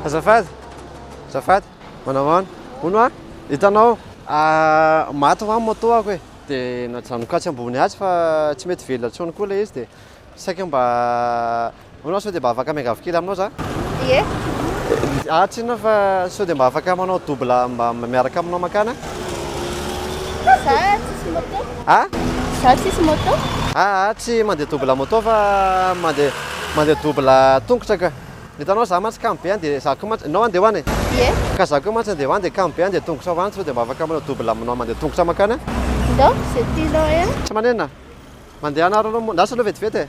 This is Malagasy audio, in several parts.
Azafady, azafady, manao ahoana? Hono a, hitanao, ah, maty ho'a ny moto-ako e, dia najanoko atsy ambony atsy fa tsy mety velona intsony koa ilay izy dia saika mba Hono aho sao dia mba afaka miangavy kely aminao za? Ie. Aah tsinona fa sao dia mba afaka manao double mba miaraka aminao mankany a? Za tsisy moto. A? Za tsisy moto. Aa tsy mandeha double moto fa mandeha mandeha double tongotra ka. Hitanao za mantsy kamo be any dia za koa mantsy, ianao any dia ho any e? Ie. Ka za koa mantsy andeha ho any dia kamo be any dia tongotra ho any sao dia mba afaka manao double aminao mandeha tongotra mankany a? Ndao, ze tianao e a. Tsy manenina. Mandeha anareo aloha moa, ndao sao aloha vetivety e.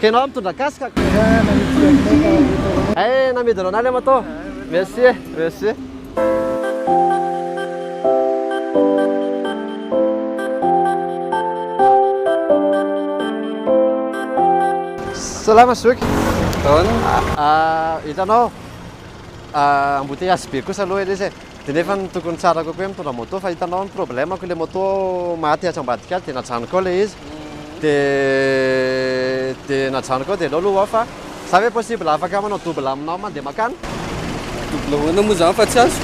Kenao mitondra casque ko. Ay namidinao anah le moto. Merci e, merci. Salama zoky. Ahoana? Hitanao embouteillage be kosa aloha ilay izy e. Dia nefa ny tokony tsara kokoe mitondra moto fa hitanao ny problème ko le moto maty atsy ambadika atsy dia najanoko ao le izy dia dia najanoko ao dia aleo aloha fa za ve possible afaka manao double aminao mandeha makany? Double ahoana moa zany fa tsy azo?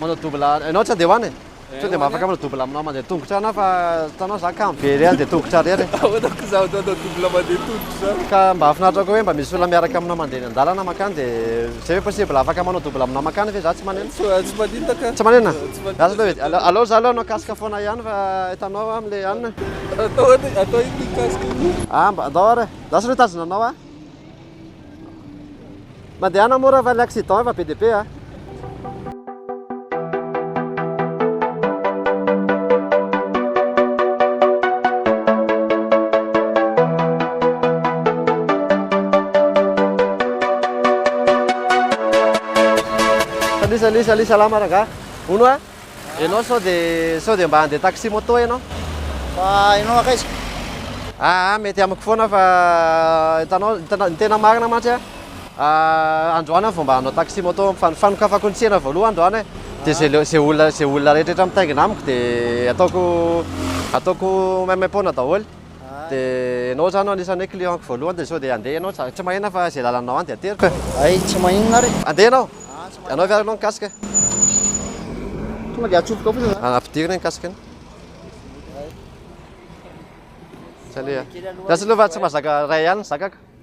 Manao double enao tsy handeha ho any e? Sao dia mba afaka manao double aminao mandeha tongotra any aho fa hitanao za kamo be re handeha tongotra re re. Ahoana ko za ohatranao double mandeha tongotra zany? Ka mba hahafinaritra koa hoe mba misy olona miaraka aminao mandeha eny an-dalana makany dia. Jereo possible afaka manao double aminao mankany ve za tsy manena? Tsy manina ka. Tsy manena? Lasa teo edy. Aleo za aleo hanao casque foana ihany fa hitanao am le an. Atao atao iny ny casque iny. Ah mba andao ary e. Lasa aleo hitazona anao a. Mandehana mora fa le accident efa be dia be a. salut salut salama rangah ono a ianao sao dia sao dia mba handeha taxi moto ianao fa ianao akaiza aa mety amiko foana fa hitanao ny tena marina mantsy a Androany aho vao mba hanao taxi moto am fa ny fanokafako ny tsena voaloha androany e de ze le ze olona ze olona rehetra mitaingina amiko de ataoko ataoko maimaim-poana daholo de enao zany no anisany hoe client-ko voalohany de sao de andeha enao za tsy mahena fa ze lalanao any de ateriko e hay tsy maninona ary andeha enao anao ve ary enao ny casque e tonga de atsofoka ao fotsiny zany ampidirina ny casque ny hay tsy aleha gasy aloha fa tsy mahazaka ray ihany ny zakako